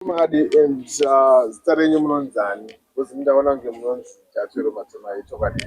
Madi and uh, zita renyu munonzani? Because ndaona kunge munonzi Jatwero Matemai chokwadi.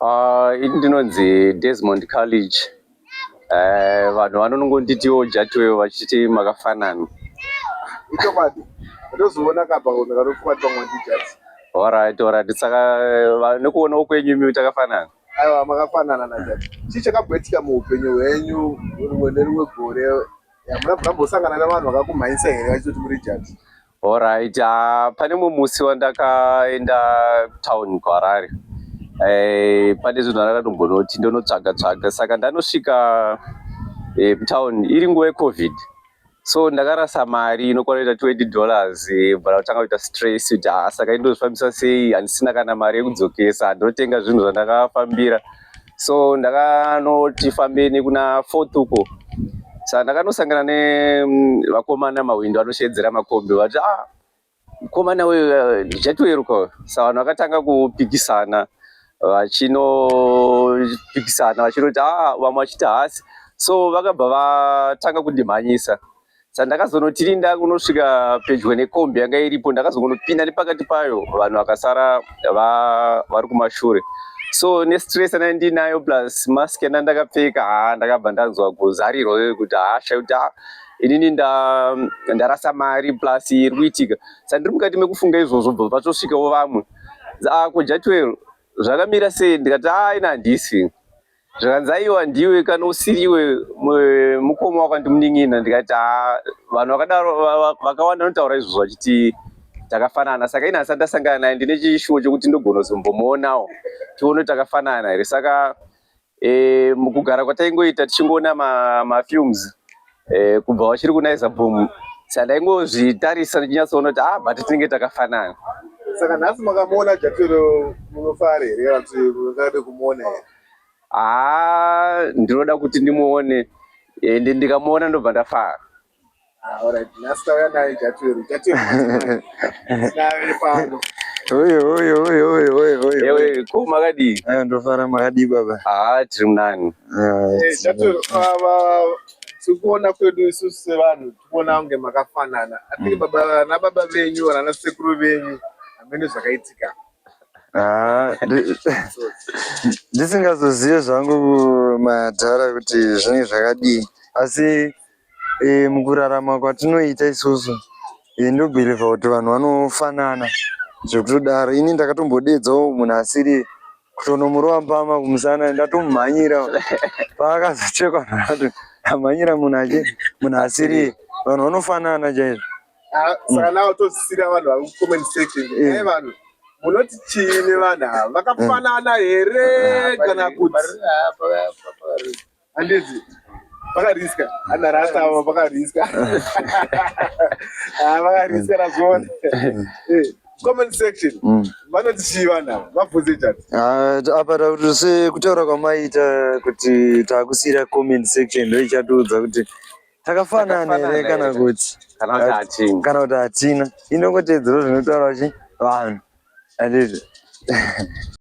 Uh, ini ndinonzi Desmond College. Eh, vanhu vanongonditiwo Jatwero vachiti makafanana. Ichokwadi. Ndozoona kapa kunhu kanofuka tongo ndijati. Alright, alright. Saka eh, nekuona ukwenyu imi takafanana. Aiwa makafanana na Jatwero. Chii chakabwetika muupenyu hwenyu rumwe nerumwe gore Mambosangana navanhu vakakumhanyisa here vachitoti muri judge? Alright, uh, pane mumwe musi wandakaenda town kuHarare. Eh, pane zvinhu ndakatombonoti ndonotsvaga tsvaga saka ndanosvika eh, town iri nguva yeCovid. So ndakarasa mari inokwana kuita 20 dollars eh, bva ndakutanga kuita stress kuti ah, saka indozvifambisa sei handisina kana mari yekudzokesa ndotenga zvinhu zvandakafambira. so ndakanoti fambe nekuna fourth uko sa ndakanosangana nevakomana mm, mahwindo anosheedzera makombi vati ah mukomana uyu eh, ndichatoeruka sa vanhu vakatanga kupikisana vachinopikisana vachinoti ah vamwe vachiti hasi so vakabva vatanga kundimhanyisa sandakazonotirinda kunosvika pedyo nekombi yanga iripo ndakazongonopinda nepakati payo vanhu vakasara vari kumashure so nestress ana ndinayo plus mask yanda ndakapfeka ha ndakabva ndanzwa kuzarirwa veve kuti hasha kuti ha inini ndarasa mari plus iri kuitika sandiri mukati mekufunga izvozvo bva patosvikawo vamwe ko jatwel zvakamira sei ndikati aina handisi zvikanzi aiwa ndiwe kana usiriwe mukoma wako ndimunin'ina ndikati haa vanhu vakadaro vakawanda vanotaura izvozvo vachiti takafanana saka ini hasati ndasangana naye ndine chishuwo chokuti ndogona kuzombomuonawo tione takafanana here saka e, mukugara kwataingoita tichingoona mafilms ma Eh, kubva wachiri kunaiza boom sandaingozvitarisa ndichinyatsoona kuti ah but tinenge takafanana saka nhasi makamuona jatero munofara here kana kuti mungade kumuona here haa ah, ndinoda kuti ndimuone ende ndikamuona ndobva ndafara ah, ko makadii eh, ndofara makadii baba haa ah, tiri munani tikuona kwedu isusu sevanhu tikuona kunge makafanana atike baba nababa venyu kana nasekuru venyu hamene zvakaitika Ah, ndisingazozive zvangu madhara kuti zvinenge zvakadii asi e, mukurarama kwatinoita isusu e, ndobhirivha kuti vanhu vanofanana zvekutodaro ini ndakatombodeedzawo munhu asiri kutonomurova mbama kumusana ndatomumhanyira paakazochekwa naati amhanyira munhu achi munhu asiri vanhu vanofanana chaizvo ah, saka mm. nawo tozisira vanhu vari kucomment section eh. e vanhu munoti chii nevanhu ava vakafanana here ah, kana kuti ah, Handiti vakariska ana rasta avo vakariska ah, vakariska razviona eh, comment section mm. vanoti chii vanhu ava vabvunze chati ah, apa takuti sekutaura kwamaita kuti takusiyira comment section ndo ichatiudza kuti takafanana here kana kuti kana kuti hatina inongotedzero zvinotaura chi vanhu andizvo